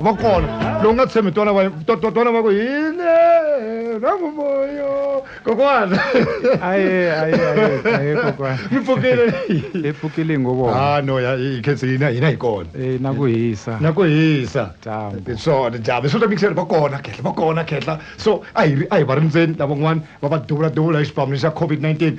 va kona lowu nga tshembi twana va twana va ku hi le rangumoyo kokwana aye aye aye kokwana mi pfukile hi pfukile ngo vona ah no ya hi khensi hina hina hi kona eh na ku hisa na ku hisa dyambu swona dyambu swo mixer va kona khehla va kona khehla so a hi a hi va rindzeni lavan'wana va va duvula duvula hi xipamelo xa covid 19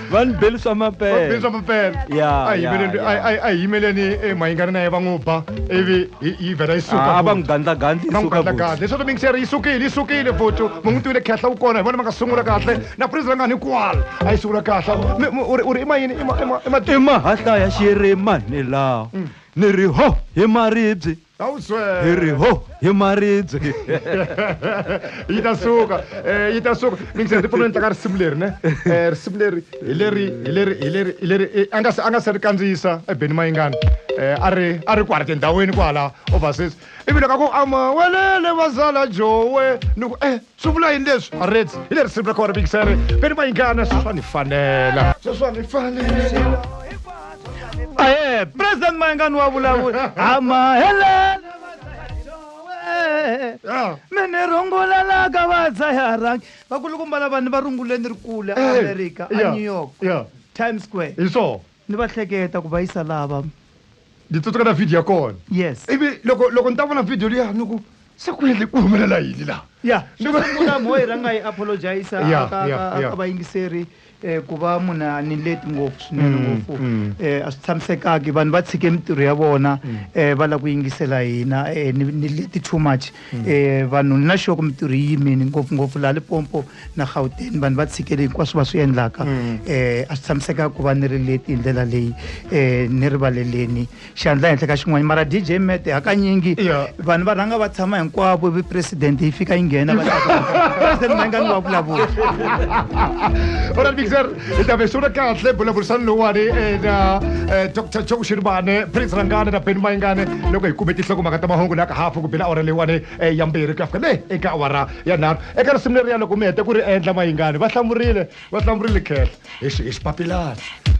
va ni beli swa mapele swa mapele a yimeleni a yimeleni eh, mahingani na ye va n'wi ba ivi yi vhela yi suka ah, va n'wi gandlagandli va n'wi gandlagandli leswaku mixeri yi sukile yi sukile futhi mu n'wi tivile khehla wu kona hi vona va nga sungula kahle na prince va nga ni kwala a yi sungula kahle u ri i mayini i mahahlaya xiyere manelawo mm. ni ri ho hi maribye ta wu swela hi ri ho hi maribye yi ta suka um yi ta suka mi ngi se ndzi pfuna ni tlanga risimu leri ne um risimu leri hi leri hi leri hi leri hi leri a nga se a nga se ri kandziyisa ebeni mayingani um a ri a ri kwala tindhawini kwala overseas ivi loko a ku amawelele vazala jowe ni ku e Swi vula yini leswi? Marets, hi le risimu ra kona Bixere, ve ni vayingana sweswi swa ni fanela. Sweswi swa ni fanela. Aye, President Mayengani wa vulavula. Amahelela Yeah. mi ni rungulelaka vadzayarangi vakulukumba lavani va runguleni ri kula Eh, america a yeah, new york yeah. times square Hi swona. Ni va hleketa ku va yisa laha va. Ndzi tsutseka na video ya kona. Yes. Ivi loko loko ni ta vona video liya ni ku se ku endle ku humelela yini laha. Ya xo sungula mo yi rhanga yi apologize ka ka ka vayingiseri ku va munhu a ni leti ngopfu swinene ngopfu a swi tshamisekanga vanhu va tshike mintirho ya vona va lava ku yingisela hina ni leti too much. um vanhu ni na xoko mintirho yi yimini ngopfungopfu laha lipompo na gauteni vanhu va tshikele hinkwaswo va swi endlaka um a swi tshamiseka ku va ni ri leti hi ndlela leyi um ni rivaleleni xandla henhla ka xin'wana mara d j mete hakanyingi vanhu va rhanga va tshama hinkwavo vi president yi fika yi nghena va president va nga ni va vulavula hi ta vesula kahle bulavurisani lowuwani eh, na eh, dr joe xiribane prince rangane na beni mayingane loko hi kume tinhlokomhaka ta mahungu laka hafu ku bela awara leyiwani eh, ya mbirhi ku ya fika le eka awara ya nharhu eka risimu leriya loko mi heta ku ri endla mayingane va hlamurile va hlamurile khehla hi xi- hi xipapilana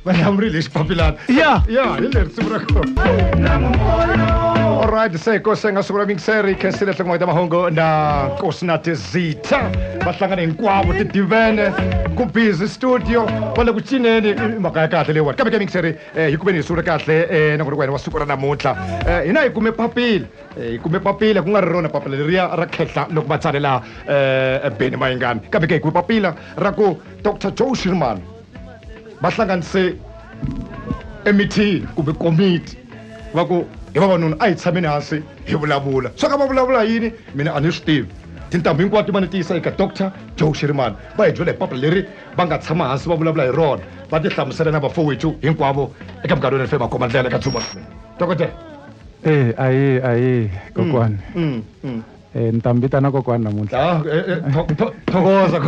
va hlamurile hi xipapilana ya ya hi le risimu ra kona olright se ko se nga sungula mingiseri khensile nhloko ta mahungu na kosinatis Zitha va hlangane hinkwavo tidivene ku busy studio va le ku cineni i mhaka ya kahle leyiwani kambe ke mixeri eh, hi kumeni hi sungule kahle eh, na ku ri wena wa siku ra namuntlha Eh, hina hi kume papila Eh, hi kume papila ku nga ri rona papila leriya ra khehla loko va tsalela eh, beni mayingani kambe ke hi kume papila ra ku dr joe shirman va hlanganise emithini kumbe komiti va ku hi vavanuna a hi tshameni hansi hi vulavula swa ka va vulavula yini mina a ni swi tivi tintambu hinkwato va ni tiyisa eka doctor joe xirimani va hi byela hi papila leri va nga tshama hansi va vulavula hi rona va ti hlamusela na vafowethu hinkwavo eka muganga lowu fema khoma ndlela eka dzuba dokodela e ahee ahee kokwani mm, mm, mm. E, ni ta mi vitana kokwani namuntlha ah, e, e, thokoza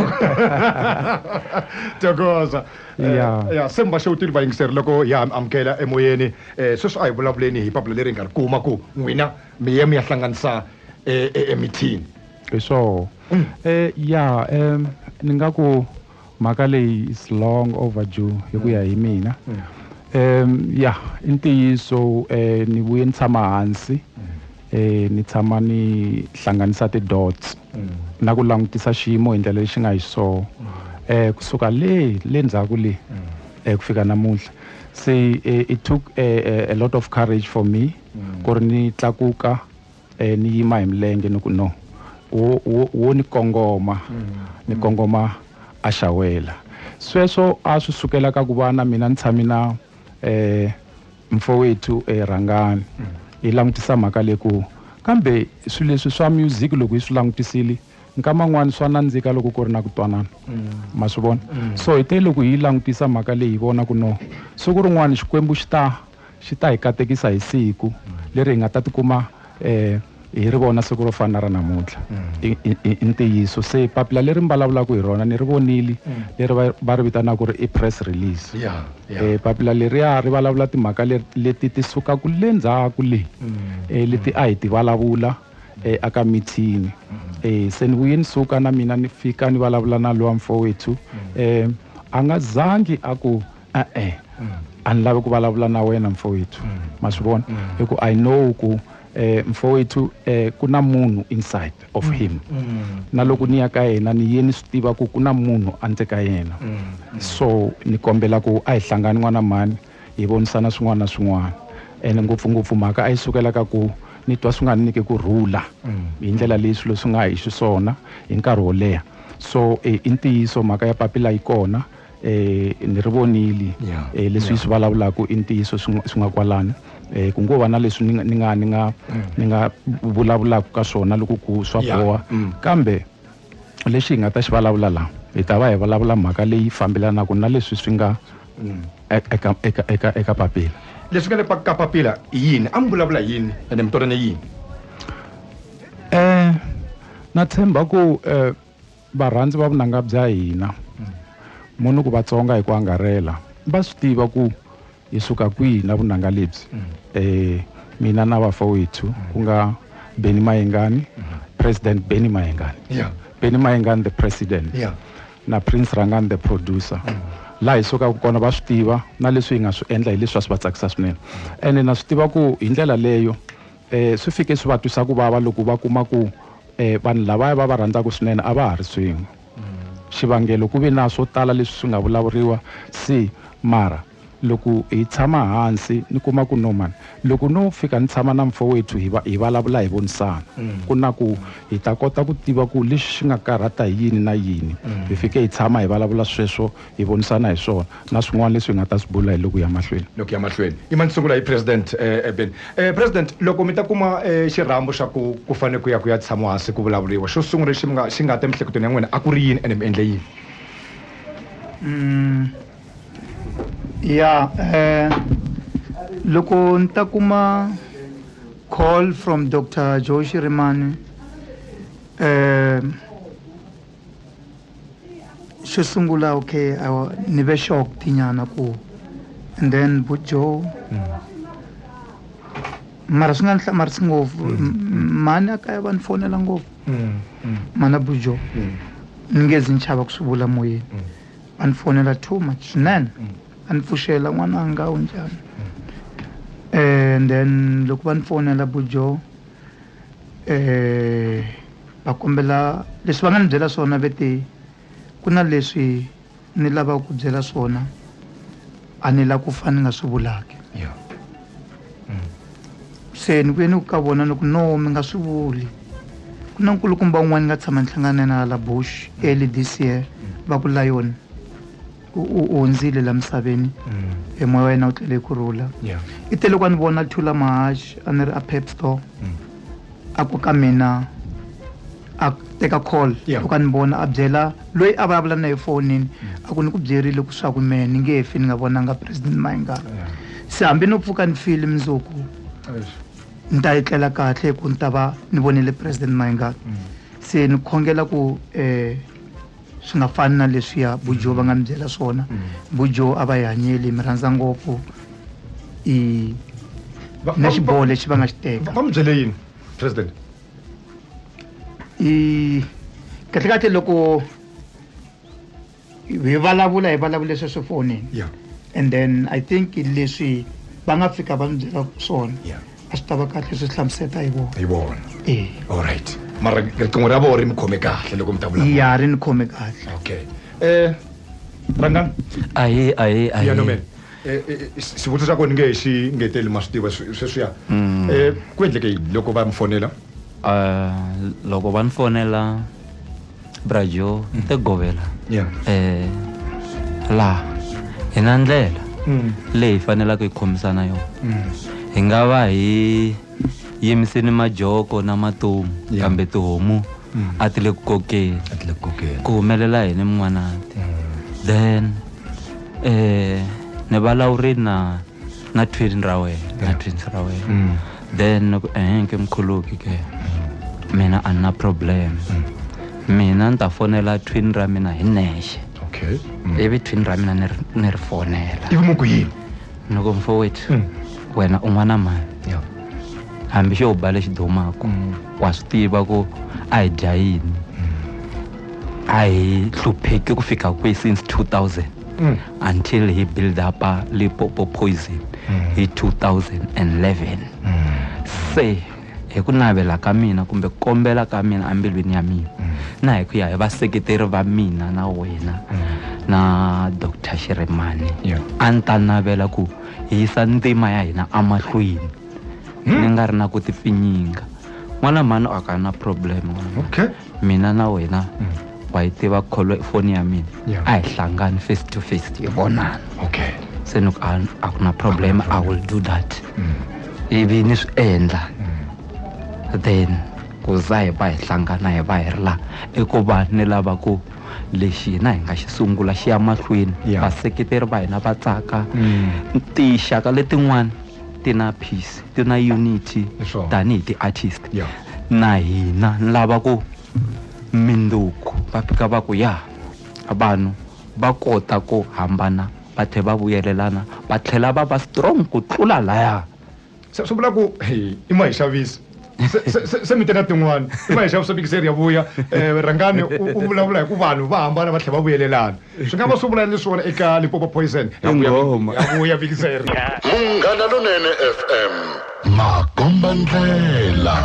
thokoza ya se mi va xewutile vayingiseri loko ya mi amukela emoyeni um sweswi a hi vulavuleni hi papila leri hi nga ri kuma ku n'wina mi ye mi ya hlanganisa emithini hi swoho um ya um ni nga ku mhaka leyi is long overdue hi ku ya hi mina um ya i ntiyiso um ni vuye ni tshama hansi um ni tshama ni hlanganisa ti-dots na ku langutisa xiyimo hi ndlela lexi nga hi soho um kusuka le le ndzhaku le um ku fika namuntlha se it took a, a lot of courage for me ku ri ni tlakuka E, ni yima hi milenge ni ku, No, wo, wo, wo ni kongoma, ni kongoma a xawela. Sweswo a swi sukela ka ku va na mina ni tshame na e, Mfowethu e, Rhangani hi langutisa mhaka leyi ku, Kambe swilo leswi swa music loko hi swi langutisile, nkama un'wana swa nandzika loko ku ri na ku twanana. Ma swi vona? So hi te loko hi yi langutisa mhaka leyi hi vona ku, No, siku rin'wana Xikwembu xi ta. xi ta hi katekisa hi siku leri hi nga ta tikuma um hi ri vona siku ro fana na ra namuntlha mm. i ntiyiso se papila leri mi vulavulaka hi rona ni ri vonile mm. leri va ri vitanaka ri i press release um papila leriya ri vulavula timhaka leti ti sukaka le ndzhaku leyi um mm. leti a hi ti vulavula um aka mithini um se ni vuye ni suka na mina ni fika ni vulavula na lowa mfowethu um a nga zangi a ku e-e a ni lavi ku vulavula na wena mfowethu ma swi vona hi ku i know ku um mfowethu um ku na munhu inside of him na loko ni ya ka yena ni ye ni swi tiva ku ku na munhu andzeni ka yena so ni kombela ku a hi hlangani n'wana mhani hi vonisana swin'wana na swin'wana ene ngopfungopfu mhaka a yi sukela ka ku ni twa swi nga ni nyike ku rhula hi ndlela leyi swilo swi nga hi xiswona hi nkarhi wo leha so i ntiyiso mhaka ya papila yi kona eh ni ri vonile yeah, eh leswi yeah. swi vulavulaka i ntiyiso swi nga kwalani eh ku ngo va na leswi ni nga ni nga ni nga mm. ni nga vulavulaka ka swona loko ku swa boha mm. kambe lexi hi nga ta xi vulavula la hi ta va hi vulavula mhaka leyi fambelanaka na leswi swi nga mm. e, eka eka eka eka papila leswi nga le ka papila i yini a mi vulavula yini ene mi twanane yini um na tshemba ku um Varhandzi va vunanga bya hina, mo ni ku va tsonga hi ku angarhela, va swi tiva ku hi suka kwihi na vunanga lebyi. E, mina na vafowethu, ku nga Benny Mayengani, President Benny Mayengani, Yeah. Benny Mayengani the President, Yeah. na Prince Rangani the Producer, laha hi sukaka kona va swi tiva, na leswi hi nga swi endla hi leswi a swi va tsakisa swinene. Ene na swi tiva ku hi ndlela leyo, Swi fike swi va twisa ku vava loko va kuma ku vanhu lavaya va va rhandzaka swinene a va ha ri swin'we. Xivangelo ku ve na swo tala leswi swi nga vulavuriwa si mara loko hi tshama hansi ni kuma ku no mhani loko no fika ni tshama na mfowethu hi va hi vulavula hi vonisana ku na ku hi ta kota ku tiva ku lexi xi nga karhata hi yini na yini hi fike hi tshama hi vulavula sweswo hi vonisana hi swona na swin'wana leswi hi nga ta swi bula hi loku ya mahlweni. Loku ya mahlweni. Yima ni sungula hi President Eben. President, loko mi ta kuma xirhambo xa ku ku fane ku ya ku ya tshamiwa hansi ku vulavuriwa, xo sungula lexi mi nga xi nga ta emiehleketweni ya n'wina a ku ri yini ene mi endle yini? Ya, loko ni ta kuma call from Doctor Joe Shirimani xo sungula okay awa ni ve shocked nyana ku and then bu joe mara swi nga ni hlamarisi ngopfu mhani a kaya va ni fonela ngopfu mana bu joe ni nge zi ni chava ku swi vula moyeni va ni fonela too much swinene a ni pfuxela n'wananga u njhani and then loko va ni fonela bu joe eh va kombela leswi va nga ni byela swona ve te ku na leswi ni lavaka ku byela swona a ni la ku fa ni nga swi vulaki se ni vuye ni ku ka vona ni ku no mi nga swi vuli ku na nkulukumba un'wana ni nga tshama ni hlangana na yena hala bush early this year va ku lion u u hundzile la misaveni e moya wa yena u tlele ku rhula Yeah. i te loko a ni vona thula mahaxi a ni ri a pep store a ku ka mina a teka call Yeah. loko a ni vona a byela loyi a vulavula na ye fonini a ku ni ku byerile ku swaku mehe ni nge fi ni nga vonanga president mayingana Yeah. se hambi no pfuka ni file mundzuku Eish. ni ta etlela kahle ku ni ta va ni vonile president mayingana se ni khongela ku um swi nga fani na leswiya bujo va nga mi byela swona bujo a va yi hanyeli mi rhandza ngopfu i na xiboho lexi va nga xi teka va mi byele yini president i kahlekahle loko hi vulavula hi vulavule sweswo fonini and then i think leswi va nga fika va mi byela swona a swi ta va kahle swi hlamuseta hi vona hi vona e allright mara riqingho ra vona ri mi khome kahle loko mi ta vula ya ri ni khome kahle okay um rangani ahe ahe ahe xivutiso xa kona nge xi ngeteli ma swi tiva sweswiya um ku endleke yini loko va mi fonela um loko va ni fonela brajo te govela Yeah. eh laha hi na ndlela Mm. leyi hi fanelaka hi khomisana yona Mm. hi nga va hi yimiseni majoko na matomu Yeah. kambe tihomu Mm. a ti le ku kokeni A ti le ku kokeni. ku humelela yini mun'wanati then eh ni valawurini na na twin ra wena na Yeah. twins ra wena Mm. then loko ehenke mkhuluki ke mina a ni na problem mina ni ta fonela twin ra mina hi nexe okay Mm. ivi twin ra mina ni ri- ni ri fonela ivi mu ku yini ni ku mfowethu Mm. wena u n'wana mani Yeah. hambi xo ba lexi dumaku Mm. wa swi tiva ku a hi dya yini a hi hlupheki ku fika kwihi since 2000 mm. until he build up a lipopo poison mm. hi 2011 mm. se hi ku navela ka mina kumbe ku kombela ka mina embilwini ya mina mm. na hi ku ya hi vaseketeri va mina na wena mm. na dr xiremani yeah. a ni ta navela ku hi yisa ntima ya hina emahlweni mm. ni nga ri na ku tipfinyinga n'wana mhani a ka na problem okay. mina na wena wa yi tiva kholo foni ya mina Yeah. a hi hlangani face to face hi vonana okay se ni ku a a ku na problem i will do that ivi ni swi endla then ku za hi va hi hlangana hi va hi ri laha i ku va ni lava ku lexi hina hi nga xi sungula xi ya mahlweni Yeah. vaseketeri va hina va tsaka Mm. tinxaka letin'wana ti na peace ti na unity Hi swona. tanihi ti-artist Yeah. na hina ni lava ku mindzuku va fika va ku ya vanhu va kota ku hambana va tlhela va vuyelelana va tlhela va va strong ku tlula laya se swi vula ku hey, i ma hi xavisa Se- se- se- se mi teka tin'wana i ma hi xavisa bikiseri ya vuya um rhangani u u vulavula hi ku vanhu va hambana va tlhela va vuyelelana swi nga va swi vula ni swona eka lipopo poison yavuya vikiseri munghana lonene fm makomba ndlela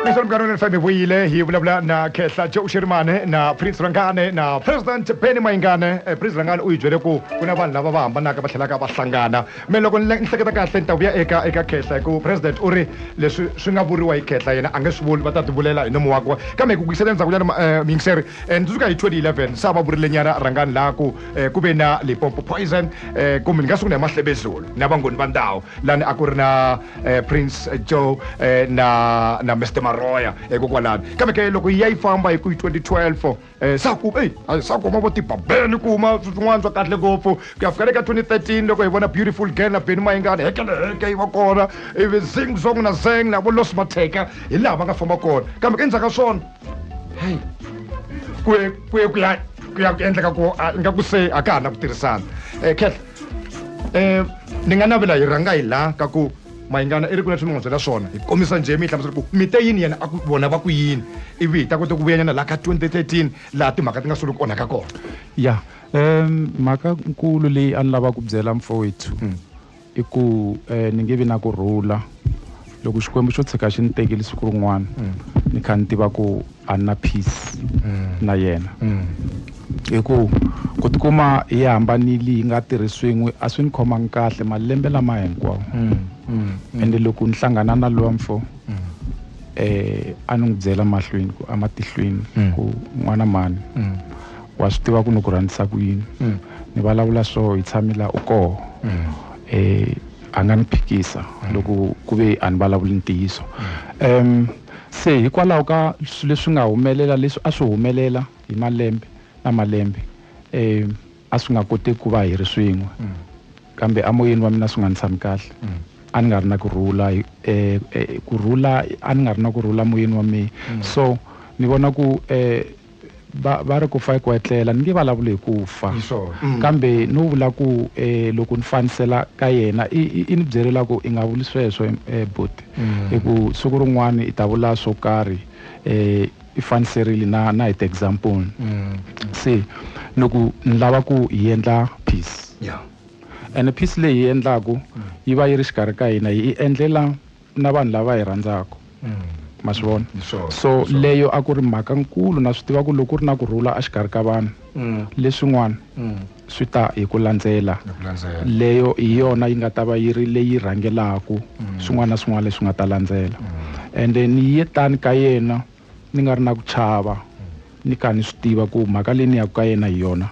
leswi mugano ni fm vuyile hi vulavula na khehla jo uxirimane na prince rangane na president benny mayingane eh, prince rangane u yi byele ku ku na vanhu lava va hambanaka va tlhelaka va hlangana me loko ni hleketa kahle ni ta vuya eka eka khehla hi ku president u ri leswi swi nga vuriwa hi khehla yena a nge swi vuli va ta tivulela hi nomo wakwe kambe hi ku kuyisela endzhakunyana eh, miyingiseri and suka hi 2011 sa va vurilenyana rhangani laha ku eh, ku ve na limpopo poison eh, kumbe ni nga sungula hi mahlebezulu na vangoni va ndhawu lani a ku ri na eh, prince joe eh, na na mr maroya hikokwalani eh, kambe ke loko yi ya yi famba hi ku hi 2012 eh, sa ku ei a- sa kuma vo tibabeni kuma swin'wana swa kahle ngopfu ku ya fika le ka 2013 loko hi vona beautiful girl na beni mayingani hekeleheke yi va kona ivi zing zong na zeng na vo los mateka hi laha va nga famba kona kambe ke endzhaku ka swona heyi ku ye ku ye ku ya ku ya ku endleka ku a- ingaku se a ka ha na ku tirhisana um khehla um ni nga navela hi rhanga hi laha ka ku mayingana i ri ku leswi mi n'wi byela swona hi kombisa njhe mi yi hlamusela ku mi te yini yena a ku vona va ku yini ivi hi ta kota ku vuyanyana laha ka 2013 laha timhaka ti nga solo ku onhaka kona ya um mhaka nkulu leyi a ni lava ku byela mfowethu I ku ni nge vi na ku rhula loko xikwembu xo tshika xi ni tekile siku rin'wana ni kha ni tiva ku a ni na peace na yena hi ku ku tikuma hi hambanile hi nga tirhi swin'we a swi ni khomangi kahle malembe lama hinkwawo ende loko ni hlangana na lowa mfo a ni n'wi byela mahlweni ku ematihlweni ku n'wana mhani wa swi tiva ku ni ku rhandzisa ku yini mm. ni vulavula so hi tshami la u koho mm. eh, a nga ni phikisa mm. loko ku ve a ni vulavuli ntiyiso um se hikwalaho ka swilo leswi nga humelela leswi a swi humelela hi malembe na malembe um a swi nga koti ku va hi ri swin'we kambe amoyeni wa mina swi nga ni tshami kahle a ni nga ri na ku rhula um eh, eh, ku rhula a ni nga ri na ku rhula moyeni wa mina so ni vona ku um Va, va ri ku fa i ku etlela. Ni nge valavuli hi ku fa, mm. kambe no vula ku eh, loko ni fanisela ka yena i, i, i ni byelela ku i nga vuli sweswo eh, buti mm. hi ku siku rin'wana i ta vula swo karhi eh, i faniserile na, na hi ti-example mm. se ni ku ni lava ku hi endla peace yeah. ene peace leyi hi endlaku mm. yi va yi ri xikarhi ka hina hi endlela na vanhu lava hi rhandzaka ma swi vona mm, sure, so sure. leyo a ku ri mhaka nkulu na swi tiva ku loko ku ri na ku rhula exikarhi ka vanhu mm. leswin'wana mm. swi ta hi ku landzela leyo hi yona yi nga ta va yi ri leyi rhangelaka mm. swin'wana na swin'wana leswi nga ta landzela mm. ende ni ye tani ka yena Ni nga ri na ku chava, ni kha ni swi tiva ku mhaka leyi ni yaka ka yena hi yona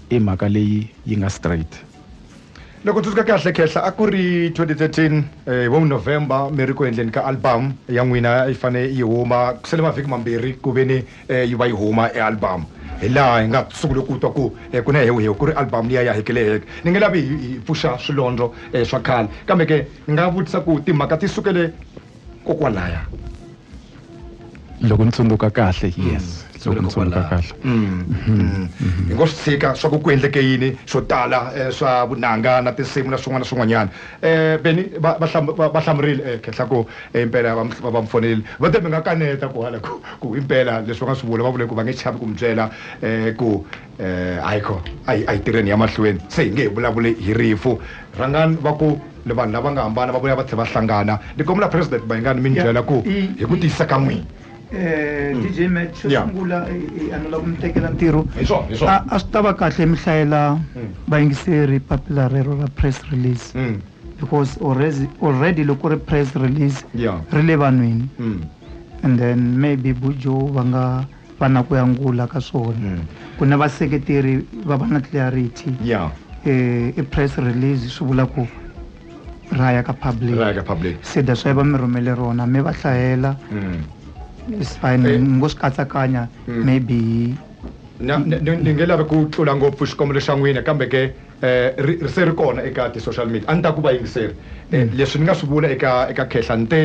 i mhaka leyi yi nga straight. Loko ni tsundzuka kahle, Khehla a ku ri 2013, hi vo November mi ri ku endleni ka album ya n'wina a yi fanele yi huma, ku sele mavhiki mambirhi ku ve ni yi va yi huma e album. Hi laha hi nga sungule ku twa ku ku na hewu-hewu, ku ri album liya ya Hekeleheke. Ni nge lavi hi pfuxa swilondlo swa khale, kambe ke ni nga vutisa ku timhaka ti sukele kokwalaya loko ni tsundzuka kahle mm. yes loko ni tsundzuka kahle mm. Mm. hi ngo swi tshika swa ku ku endleke yini swo tala eh, swa vunanga na tinsimu na swin'wana na swin'wanyana um beni va hlamurile eh, khenhla ku eh, impela va mi fonelile va te mi nga kaneta ku hala ku impela leswi va nga swi vula va vule ku va nge chavi ku mi byela um ku um hayi kho a hi a hi tirheni ya mahlweni se hi nge hi vulavuli hi rifu rhangani va ku ni vanhu lava nga hambana va vuya va tlhela va hlangana ni kombela president mayingani mi ni byela ku hi ku tiyisa ka n'wina um dj mat xo sungula a ni lava ku mi tekela ntirho hi swona hi swona a swi ta va kahle mi hlayela vayingiseri papila rero ra press release because already already loko ku ri press release Yeah. ri le vanhwini and then maybe bujo va nga va na ku yangula ka swona mm. ku na vaseketeri va va na clarity yeah. eh, i press release swi vula ku ra ya ka public se that's why va mi rhumele rona mi va hlayela mm. is fine eh. ngo swi katsakanya mm. maybe ni nge lavi ku tlula ngopfu xikombelo xa n'wina kambe ke eh, ri se ri kona eka ti-social media a ni ta ku va yingiseri eh, leswi ni nga swi vula eka eka khehla ni te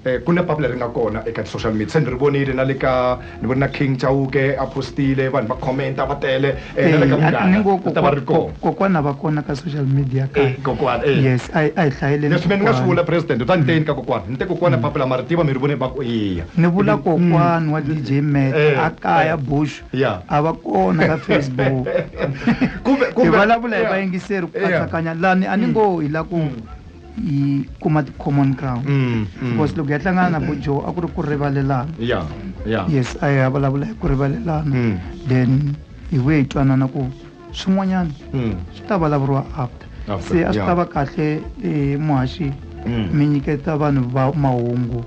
Ku na papila ri nga kona eka ti-social media se ni ri vonile na le ka ni vone na King Chauke a post-ile vanhu va comment-a va tele na le ka Munghana ri ta va ri kona. Kokwana va kona ka social media ka kokwana yes a hi a hi hlayeleni leswi mina ni nga swi vula president u ta ni te yini ka kokwana ni te kokwana papila ma ri tiva mi ri vone va ku eya ni vula kokwana wa DJ Mac a kaya Bush a va kona ka Facebook kumbe kumbe hi vulavula hi vayingiseri ku katsakanya lani a ni ngo hi la ku yi kuma ti-common ground mm, mm. because loko ya hlangana na bojo a ku ri ku rivalelana yeah, yeah. yes a ya vulavula hi ku rivalelana mm. then hi vuye hi twanana ku swin'wanyana mm. swi ta vulavuriwa after se a swi ta va kahle eh, muhaxi mm. mi nyiketa vanhu va mahungu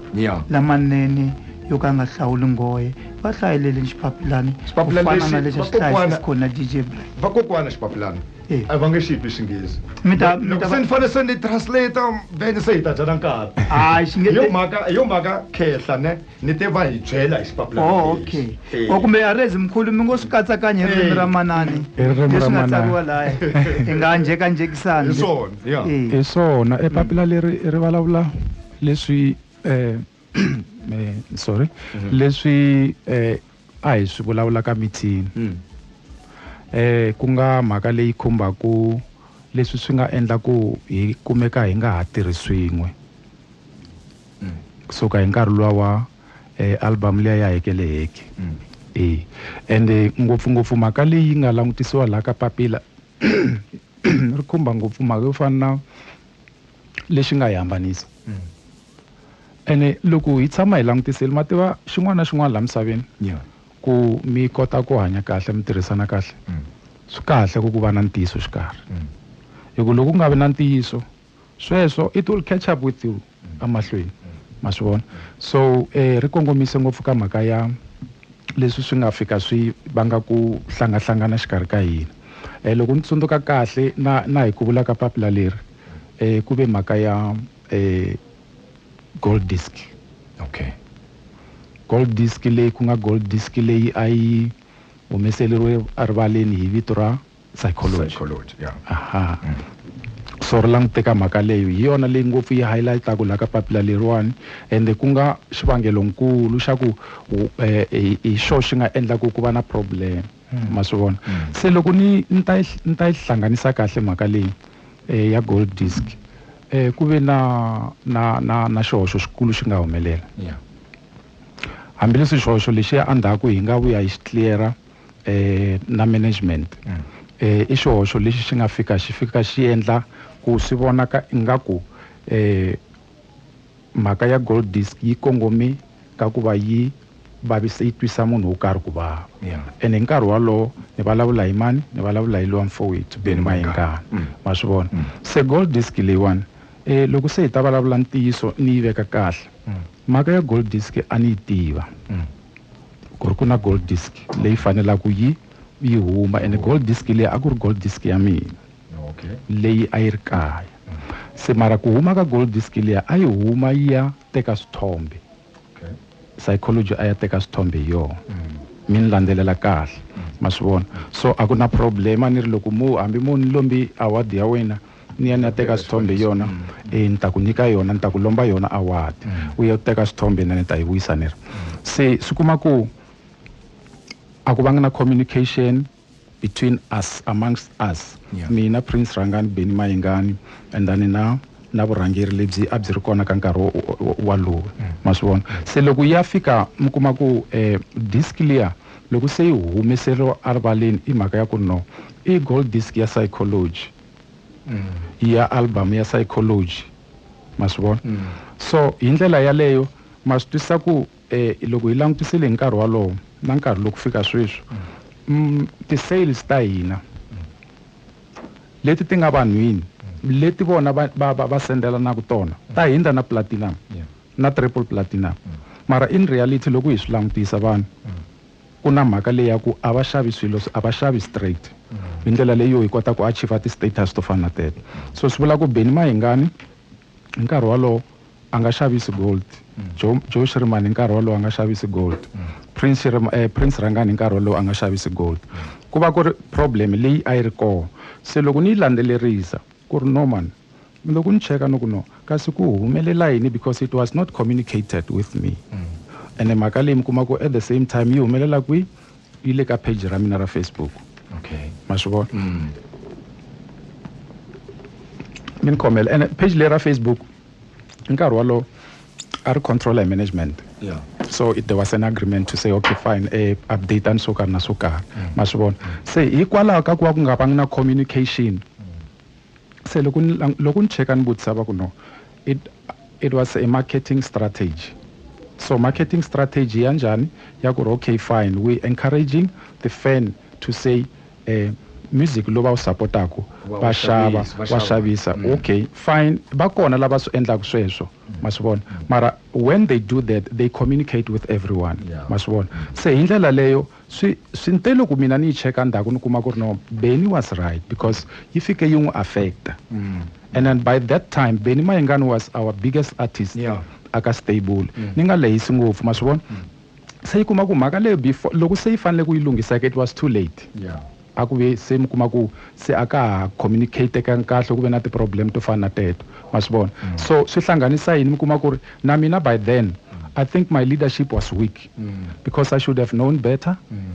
lamanene yo ka nga hlawuli nghohe va hlayelele xipapilani ku fana na lexi a xi hlayisa xikona dj black vakokwana xipapilani Eh. a va nge xi twi xinghezi Mi ta- mi loko ta va- se ni fanele se ni translate then se hi ta dyana nkarhi Hayi, xi nge- Hi yo mhaka hi yo mhaka khehla ne ni te va hi byela hi xipapila oh okay Eh. o kumbe arezi mkhulu mi ngo swi katsakanya hi ririmi Eh. ra manani Hi ririmi ra leswi nga manana. tsariwa laya hi nga njhekanjhekisani Hi swona, yeah. Eh. hi swona epapila leri ri vulavula leswi eh, eh, sorry leswi eh, A hi swi vulavula ka meeting. Ku nga mhaka leyi khumbaka leswi swi nga endla ku hi kumeka hi nga ha tirhi swin'we ku suka hi nkarhi luwa wa album liya ya Heke le Heke. E ende ngopfungopfu mhaka leyi nga langutisiwa laha ka papila ri khumba ngopfu mhaka yo fana na. lexi nga hi hambanisa mm. ene loko hi tshama hi langutisile ma tiva xin'wana na xin'wana laha misaveni yeah. ku mi kota ku hanya kahle mi tirhisana kahle mm. swi kahle ku ku va na ntiyiso xikarhi mm. hi ku loko ku nga vi na ntiyiso sweswo it will catch up with you mm. emahlweni mm. ma swi vona so um eh, ri kongomise ngopfu ka mhaka ya leswi swi nga fika swi vanga ku hlangahlangana xikarhi ka hina. Eh, loko ni tsundzuka kahle na na hi ku vula ka papila leri eh, ku ve mhaka ya eh, gold disk. Okay. Gold disk leyi ku nga gold disk leyi a yi humeseleriwe erivaleni hi vito ra psychology, psychology yeah. aha mm. so ri languteka mhaka leyo hi yona leyi ngopfu yi highlightaka laha ka papila leriwani ende ku nga xivangelonkulu xa ku eh, hi xo xi nga endlaku ku va na problem hmm. ma swi vona hmm. se loko ni ni ta ni ta yi hlanganisa kahle mhaka leyi eh, ya gold disk eh, ku ve na na na na xihoxo xikulu xi nga humelela hambileswi xihoxo lexiya endzhaku hi nga vuya hi xi cleara eh, na management mm. eh, i xihoxo lexi xi nga fika xi fika xi endla ku swi vonaka ingaku eh, mhaka ya gold disk yi kongome ka ku va yi vavisa yi twisa munhu wo karhi ku vava and hi nkarhi wolowo ni vulavula hi mani ni vulavula hi lowa mfowethu beni mayengana mm. ma swi vona mm. se gold disk leyiwani um loko se hi ta vulavula ntiyiso ni yi veka kahle Mhaka ya gold disk a ni yi tiva ku ri ku na gold disk leyi fanelaka yi yi huma ene gold disk leyi a ku ri gold disk ya mina leyi a yi ri kaya se mara ku huma ka gold disk leya a yi huma yi ya teka swithombe psychology a ya teka swithombe hi yona mi ni landzelela kahle ma swi vona so a ku na problem a ni ri loko mo hambi mo ni lombi award ya wena ni ya ni ya teka swithombe yona e ni ta ku nyika yona ni ta ku lomba yona award u ya teka swithombe na ni ta yi vuyisa ni ri se swi kuma ku a ku vanga na communication between us amongst us yeah. mina prince rhangani beni mayingani and then na na vurhangeri lebyi a byi ri kona ka nkarhi walowo mm. ma swi vona se loko ya fika mi kuma ku um eh, disk liya loko se yi humeseriwa erivaleni i mhaka ya ku no i gold disk ya psychology ya album ya psychology ma swi vona mm. so hi ndlela yaleyo ma swi twisisa ku eh, loko hi langutisile hi nkarhi walowo na nkarhi loku fika sweswi mm. mm, ti-sales ta hina mm. leti ti nga vanhwini mm. leti vona va, va, va, va sendelanaku tona mm. ta hindza na platinum yeah. na triple platinum mm. mara in reality loko hi swi langutisa vanhu mm. Ku na mhaka leyi ya ku a va xavi swilo, a va xavi straight. Hi ndlela leyi hi kota ku achiever ti status to fana na teto. So swi vula ku Benny Mayengani hi nkarhi wolowo a nga xavisi gold, Joe Joe Shirimani hi nkarhi wolowo a nga xavisi gold, Prince Prince Rhangani hi nkarhi wolowo a nga xavisi gold. Ku va ku ri problem leyi a yi ri kona. Se loko ni yi landzelerisa. Ku ri, No man. Ni lo ku ni cheka ni ku, No. Kasi ku humelela yini because it was not communicated with me. Ene mhaka leyi mi kuma ku at the same time yi humelela kwihi? Yi le ka page ra mina ra Facebook. Okay. Ma swi vona? Mi ni khomela. Ene page leyi ra Facebook. hi nkarhi wolowo a ri control hi management yeah. so there was an agreement to say okay fine eh, update ani swo karhi na swo karhi mm. ma swi vona se hikwalaho ka ku va ku nga vangi na communication mm. se loko loko ni cheka ni vutisa va ku no it, it was a marketing strategy so marketing strategy ya njhani ya ku ri okay fine we encouraging the fan to say music lowu va wu support-aku va xava wa xavisa mm. okay fine va kona lava swi endlaka sweswo mm. ma swi vona mm. mara when they do that they communicate with everyone ma swi vona se hi ndlela leyo swi swi nte loko mina ni yi cheka ndzhaku ni kuma ku ri no beni was right because yi fike yi n'wi affecta and then by that time beni mayingani was our biggest artist aka stable ni nga lehisi ngopfu ma swi vona se yi kuma ku mhaka leyo before loko se yi fanele ku yi lunghisa it was too late yeah. a ku ve se mi kuma ku se a ka ha communicatekangi kahle ku ve na ti-problem to fana na teto ma swi vona mm. so swi hlanganisa yini mi kuma ku ri na mina by then mm. i think my leadership was weak mm. because i should have known better mm.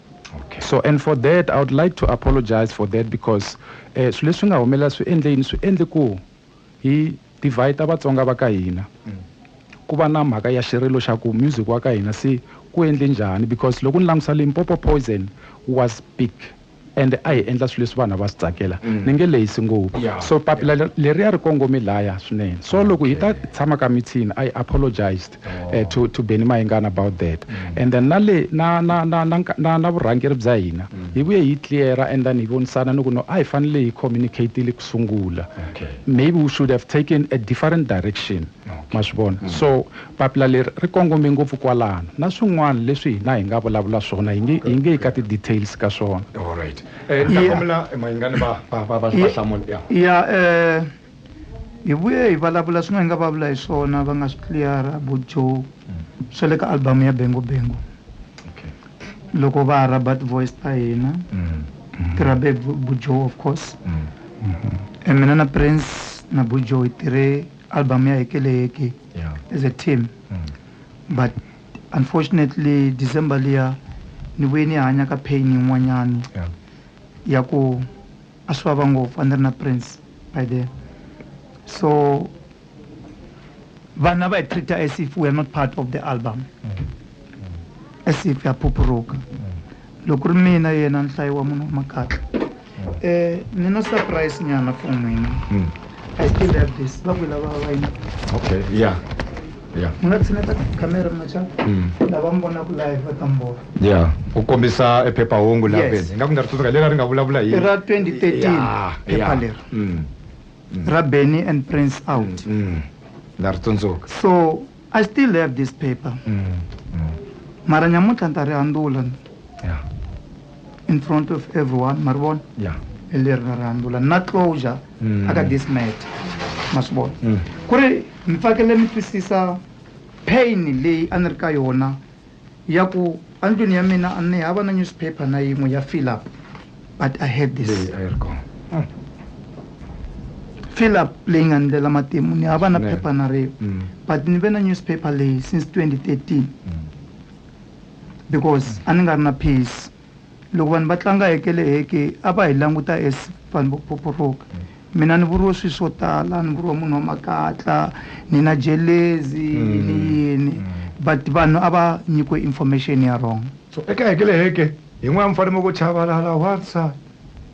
okay. so and for that i would like to apologize for that because eh, swilo leswi nga humelela swi endle yini swi endle ku hi divhayi ta vatsonga va ka hina mm. ku va na mhaka ya xirilo xa ku music wa ka hina se ku endle njhani because loko ni langutisa limpopo poison was big and a hi endla swilo leswi vanhu va swi tsakela mm. ni nge lehisi ngopfu so papila leriya ri kongome laya swinene so loko hi ta tshama ka mithini i apologized oh. eh, to, to beni mayingana about that mm. and then na le na na na na, na, na vurhangeri bya hina mm. hi vuye hi cleara and then hi vonisana ni ku no a hi fanele hi communicatile ku sungula okay. maybe we should have taken a different direction okay. ma swi vona mm. so papila leri ri kongome ngopfu kwalano na swin'wana leswi hina hi nga vulavula swona hi nge hi nge yi ka ti-details ka swona eh, ya eh, Hi vuye hi valavula swin'we hi nga va vula hi swona va nga swi tliyara vo Joe swa le ka album ya Bengo Bengo loko va ha rhaba ti-voice ta hina ti rhabe hi vu- vu Joe of course e mina na Prince na vu Joe hi tirhe album ya Heke le Heke as a team but unfortunately December liya ni vuye ni hanya ka pain yin'wanyani ya ku A swi vava ngopfu a ni ri na Prince by then so vanhu a va hi treat-a as if we are not part of the album as if ha phuphuruka loko ku ri mina yena nhlayo wa munhu wa makatla um ni na surprise nyana for n'wina i still have this va ku lava va yini okay yeah Yeah. mi nga tshineta khamera mi nga chava Mm. lava mi vonaka live va ta mi vona ya u kombisa e phephahungu la Yes. beni ingaku ni nga ri tsundzuka leri a ri nga vulavula hi i ra 2013 Ya, phepha ya. leri Mm, ra benny and prince out mm. na ri tsundzuka so i still have this paper Mm, mm. mara nyamuntlha ni ta ri handula ya in front of everyone ma ri vona ya hi leri ra ri handula na closure mm. aka this matter ma swi vona mm. ku ri mi tsakele mi twisisa pain leyi a ni ri ka yona ya ku andlwini ya mina a ni hava na newspaper na yin'we ya fill up but i had this ah. fill up leyi nga ndlela matimu ni hava na phepha na rin'we mm. but ni ve na newspaper leyi since 2013 because a ni nga ri na peace Loko vanhu va tlanga heke le heke, a va hi languta as vanhu vo phoporoka. Mina ni vuriwe swilo swo tala, ni vuriwa munhu wa makatla, ni na jelezi, ni yini. But vanhu a va nyikiwe information ya wrong. So eka heke le heke, hi n'we a mi fanele mi ku chavalala, wansati.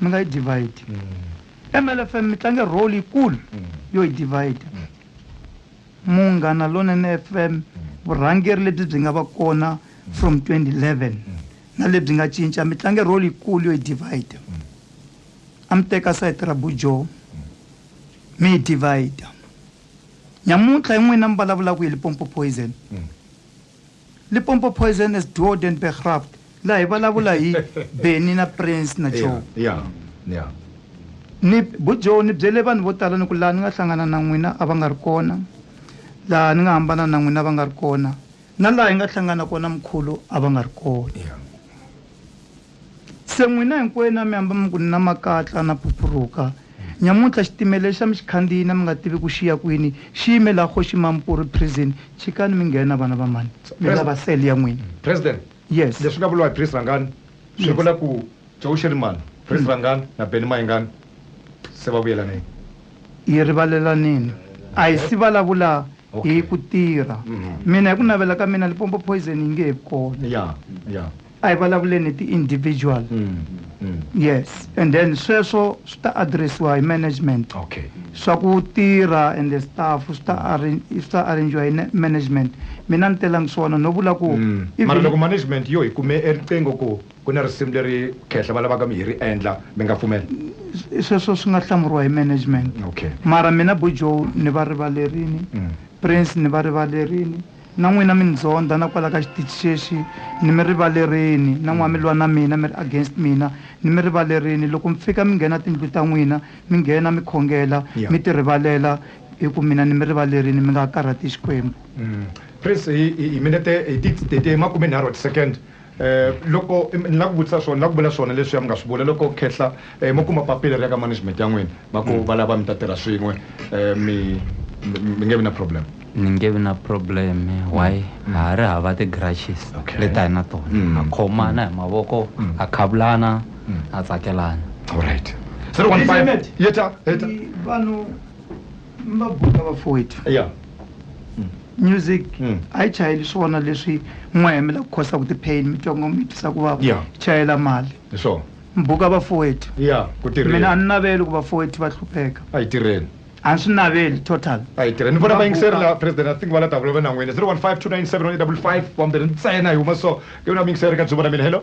mi nga yi divide mm. mlfm mi tlange role yikulu mm. yo yi divide mm. munghana lonene fm mm. vurhangeri lebyi byi nga va kona mm. from 2011 mm. na lebyi nga cinca mi tlange role yikulu yo yi divide mm. a mi teka sayiti ra bujo mm. mi yi divide nyamuntlha yin'wina mi vulavulaka hi lipompo poison mm. Limpopo Poison as Duo den Begraft laha hi vulavula hi Benny na Prince na Joe. Yeah, yeah. Ni bu Joe ni byele vanhu vo tala ni ku laha ni nga hlangana na n'wina a va nga ri kona laha ni nga hambana na n'wina va nga ri kona na laha hi nga hlangana kona mkhulu a va nga ri kona. Se n'wina hinkwenu a mi hamba mi ku, Ni na makatla, na phuphuruka. Nyamuntlha xitimela i xa mi xi khandziyini a mi nga tivi ku xi ya kwini, xi yime laha Kgoxi Mampuru Prison. Chikani mi nghena, vana va mhani, mi lava cell ya n'wina. President, Yes. leswi nga vuriwa hi Priest Rhangani swi Yes. vula ku Joe Shirimani, Priest Rhangani na Benny Mayengani se va vuyelanile. Hi rivalelanile. A hi si vulavula hi ku tirha. Mina hi ku navela ka mina Limpopo Poison yi nge he vi kona. Ya, ya. a hi vulavuleni hi ti-individual yes and then sweswo swi ta addressiwa hi management okay swa ku tirha and the staff swi ta arran- swi ta arrangiwa hi ne- management mina ni telangi swona no vula ku Mm. even- mara loko management yo hi kume eriqingho ku ku na risimu leri khehla va lavaka mi hi ri endla mi nga pfumela sweswo swi nga hlamuriwa hi management okay mara mina bujo ni va rivalerini Mm. prince ni va rivalerini Na n'wina mi ni ndzondha na kwala ka xitichi xexi, ni mi rivalerini, na n'wa mi lwa na mina, mi ri against mina, ni mi rivalerini. Loko mi fika mi nghena tindlu ta n'wina, mi nghena, mi khongela, mi ti rivalela, hi ku mina ni mi rivalerini, mi nga karhati Xikwembu. Please, hi hi minete, hi ti, hi ti makume nharhu wa ti-second. Loko ni la ku vutisa swona, ni la ku vula swona leswiya mi nga swi vula. Loko khehla mo kuma papila ri ya ka management ya n'wina, va ku va lava mi ta tirha swin'we, mi mi nge vi na problem? Ni nge vi na problem. Why? Ha ha ri hava ti grudges leti a hi na tona. Ha khomana hi mavoko, ha khavulana, ha tsakelana. Alright. Zero one five. Yeta, yeta. Vanhu. Mabuka vafowethu ya music Mm. a yi chayeli swona leswi n'wa hemela ku khosa ku ti-pain mi twa ngo mi twisa ku vava Yeah. yi chayela mali hi swona mbuka vafowethu ya ku mina a tirheni ni naveli ku vafowethu va hlupheka a yi tirheni a ni swi naveli total a yi tirheni ni vona vayingiseri Mabuka. la president i think va la davula va nan'wini 0152971855 wambirhi ntsena hi huma so ke vona vayingiseri ka dzuma ra mina hello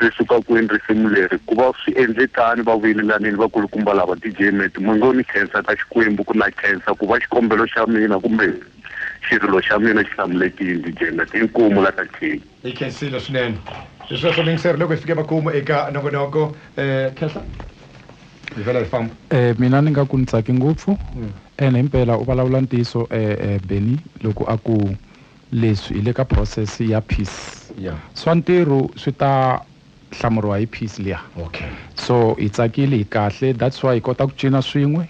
Ri suka kwini risimu leri? Ku va swi endlekani va vuyelelanile vakulukumba lava, DJ Meti, Mwengo ni Khensa ka Xikwembu ku na Khensa ku va xikombelo xa mina kumbe xirilo xa mina xi hlamulekile, DJ Meti, Inkomu la ka King. Hi khensile swinene hi sweswo muyingiseri loko hi fike makumu eka nongonoko Khensa hi vhela hi famba. Mina ni nga ku ni tsake ngopfu ene himpela u valavula ntiyiso Bennie loko a ku Leswi hi le ka process ya piece Yeah. swa ntirhu swi ta hlamuriwa hi piece liya. Okay. So hi tsakile hi kahle that's why hi kota ku cina swin'we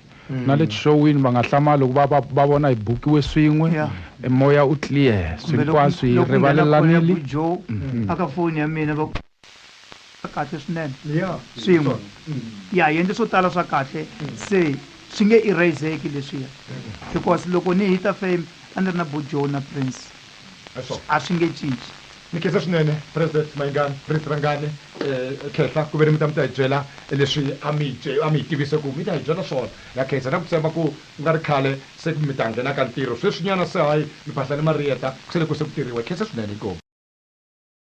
na le tixowini va nga hlamali loko va va va vona hi bukiwe swin'we Yeah. e moya u clear Kumbe loko- hinkwaswo hi loko ku nghena call ya rivalelanile. Bujo, aka foni ya mina va ku- kahle swinene swin'we ya hi endle swo tala swa kahle se swi nge eraseki leswiya because loko ni hita fame a ni ri na bojo na prince a swi nge cinci ni khensa swinene president mayingani prince rangani um khehla ku ve ni mi ta mi ta hi byela leswi a mi a mi hi tivise ku mi ta hi byela swona na khensa na ku tshemba ku ku nga ri khale se ku mi ta nghena ka ntirho sweswinyana se hayi mi phahla ni mariyeta ku se le ku se ku tirhiwa hi khensa swinene inkomu